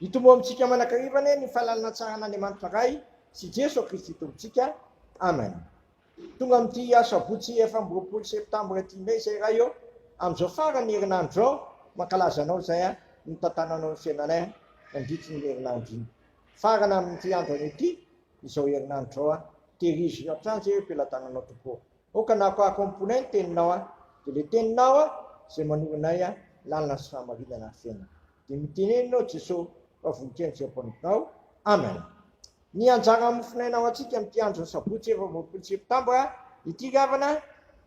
Hitombo amintsika mandrakariva anie ny fahalalan'Andriamanitra Ray sy Jeso Kristy Tompontsika. Amen. Tonga amin'ity asabotsy efatra amby roapolo septambra ity indray izay Ray ô, amin'izao faran'ny herinandro izao mankalaza Anao izay nitantananao ny fiainanay nandritry ny herinandro iny. Farana amin'ity andro anio ity izao herinandro izao, tehirizo hatrany izay eo am-pelatananao Tompo ô. Aoka na akoako amponay ny teninao an, dia ilay teninao an izay manoro anay lalana sy fahamarinana ary fiainana. Dia mitenena aho Jesoa fa voninkazo izay ampanomponao. Amen. Ny anjaran'ny mofonaina ho antsika amin'ity andron'ny sabotsy efatra amby roapolo septambra ity ry havana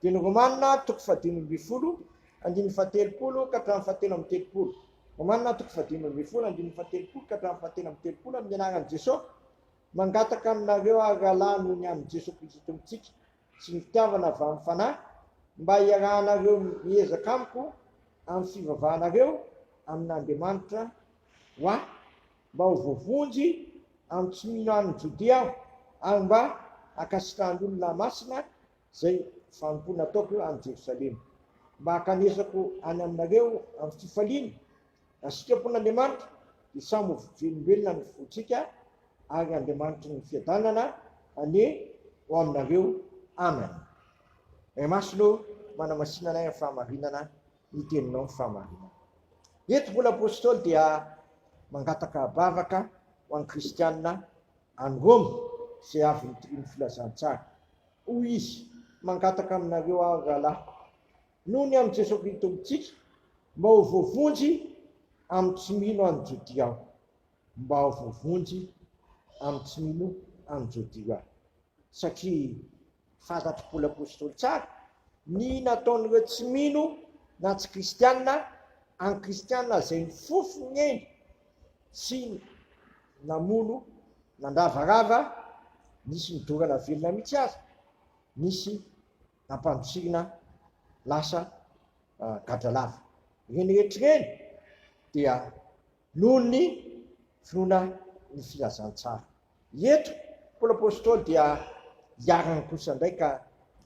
dia ny Romanina toko fahadimy ambin'ny folo andininy fahatelopolo ka hatramin'ny fahatelo amby telopolo. Romanina toko fahadimy ambin'ny folo andininy fahatelopolo ka hatramin'ny fahatelo amby telopolo amin'ny anaran'i Jesoa. Mangataka aminareo ary rahalahy noho ny an'i Jesoa Kristy Tompontsika sy ny fitiavana avy amin'ny Fanahy mba hiarahanareo miezaka amiko amin'ny fivavahanareo amin'Andriamanitra ho ahy mba ho voavonjy amin'ny tsy mino any Jodia aho ary mba hankasitrahan'ny olona masina izay fanompoana ataoko any Jerosalema mba hankanesako any aminareo amin'ny fifaliana Raha sitrapon'Andriamanitra dia samy ho velom-belona ny fontsika ary Andriamanitry ny fiadanana anie ho aminareo. Amen. Ray Masina ô, manamasina anay amin'ny fahamarinana ny teninao ny fahamarinana. Eto mbola Apostoly dia mangataka abavaka ho an'ny kristianina any Roma izay avy nitorian'ny filazantsara. Hoy izy, Mangataka aminareo aho, rahalahiko, noho ny amin'i Jesoa Kristy Tompontsika, mba ho voavonjy amin'ny tsy mino any Jodia aho. Mba ho voavonjy amin'ny tsy mino any Jodia aho. Satria fantatr'i Paoly Apostoly tsara ny nataon'ireo tsy mino na tsy kristiana an'i Kristiana izay nifofo ny ainy sy namono nandravarava, nisy nidorana velona mihitsy aza, nisy ampandosihina lasa gadralava. Ireny rehetra ireny dia noho ny finoana ny filazantsara. Eto Paoly Apostoly dia iharany kosa indray ka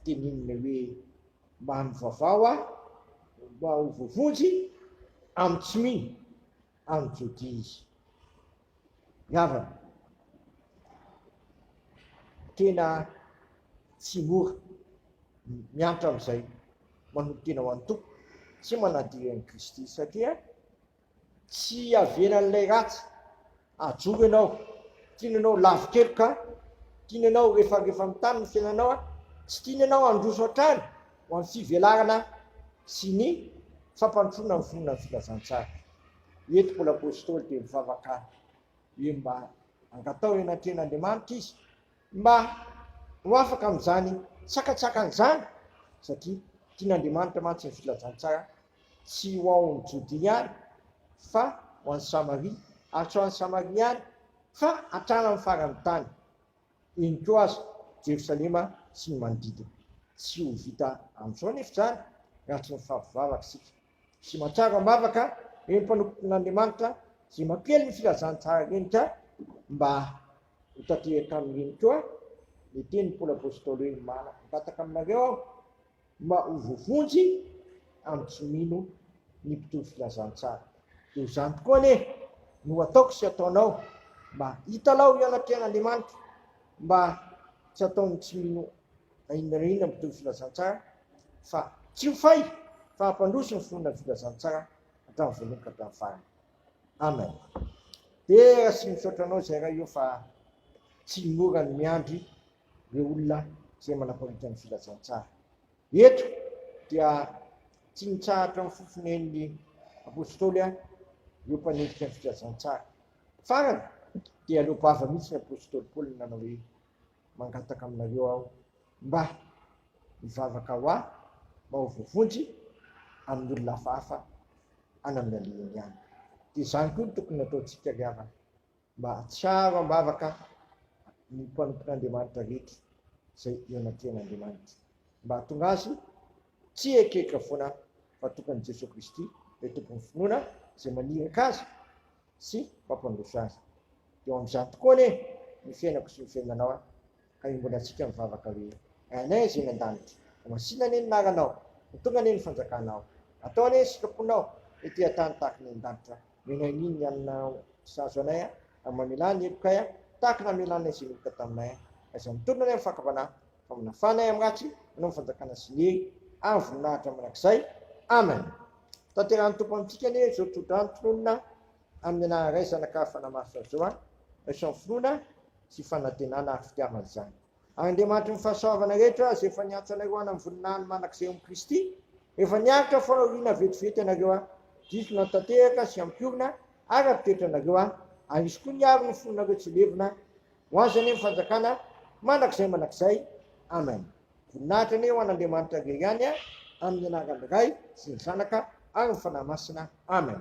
tenininy hoe, Mba mivavao aho mba ho voavonjy amin'ny tsy mino. any Jodia izy. Ry havana, tena tsy mora ny miantra amin'izay manolotena ho an'ny Tompo sy manadino an'i Kristy, satria tsy iavianan'ilay ratsy hajoro ianao, tiany ianao lavo keloka, tiany ianao refarefa amin'ny tany ny fiainanao, tsy tiany ianao handroso hatrany. ho amin'ny fivelarana sy ny fampandrosoana ny finoana ny filazantsara. Eto Paoly Apostoly dia mivavaka hoe mba angataho eny an-tren'Andriamanitra izy mba ho afaka amin'izany sakatsakan' izany satria tian'Andriamanitra mantsy ny filazantsara tsy ho an'ny Jodia ihany fa ho an'ny Samaria ary tsy ho an'ny Samaria ihany fa hatrany amin'ny faran'ny tany. eny koa aza Jerosalema sy ny manodidina. Tsy ho vita amin'izao anefa izany raha tsy mifavy vavaka isika sy mahatsiaro am-bavaka ireny mpanompon'Andriamanitra izay mampiely ny filazantsara ireny ka mba ho tanteraka amin'ireny koa ny tenin'i Paoly Apostoly hoe, Mangataka aminareo aho, Mba ho voavonjy amin'ny tsy mino ny mpitory filazantsara. Toy izany tokoa anie no ataoko sy ataonao mba hitalao eo anatrehan'Andriamanitra mba tsy ataon'ny tsy mino na inona na inona mpitory filazantsara fa tsy ho fay fa hampandroso ny finoana ny filazantsara hatramin'ny voalohany ka hatramin'ny farany. Amen. Dera sy misaotra anao izay Ray ô fa tsy mora ny miandry ireo olona izay manapariaka ny filazantsara. Eto dia tsy nitsahatra ny fofonen'ny Apostoly ireo mpanenjika ny filazantsara. Farany dia leo vava mihitsy ny Apostoly Paoly nanao hoe, Mangataka aminareo aho mba hivavaka ho ahy mba ho voavonjy amin'ny olona hafahafa any amin'ny alehany any. Dia izany koa no tokony nataontsika ry havana. Mba hahatsiaro am-bavaka ny mpanompon'Andriamanitra rehetra izay eo anatrehan'Andriamanitra. Mba hahatonga azy tsy hieritreritra foana fa tompon'i Jesoa Kristy, ilay Tompon'ny finoana izay maniraka azy sy mampandroso azy. Dia eo amin'izany tokoa anie ny fiainako sy ny fiainanao an! Ka io mbola antsika mivavaka hoe, Ainay Zay eny an-danitra, ho masina anie ny naranao, ho tonga anie ny fanjakanao, atao anie ny sitraponao ety an-tany tahaka ny any an-danitra, omena anio ny hanina sahazo anay, ary mamelà ny helokay tahaka ny namelanay izay niheloka taminay, aiza mitorina anie ny fahakambanà, fa manafà anay amin'ny ratsy Ianao ny fanjakana sy ny hery ary ny voninahitra mandrakizay. Amen. Ho tanterahin'ny Tompo amintsika anie izao tsodrano tononina. Amin'ny anaharaizana ka fanamaritra an'izao an, Sion finoana sy fanantenana ary fitiavana izany. Ary Andriamanitry ny fahasoavana rehetra izay efa niantso anareo hanam voninahiny manak'izay amin'i Kristy, efa niaritra fahoriana vetivety ianareo an, diso na tanteraka sy hampiorina araka ny toetranareo an, ary Izy koa niaro ny fonareo tsy levona, ho Azy anie ny fanjakana manak'izay manak'izay. Amen. Voninahitra anie ho an'Andriamanitra irery ihany a, amin'ny anaran'ny Ray sy ny Zanaka ary ny Fanahy Masina. Amen.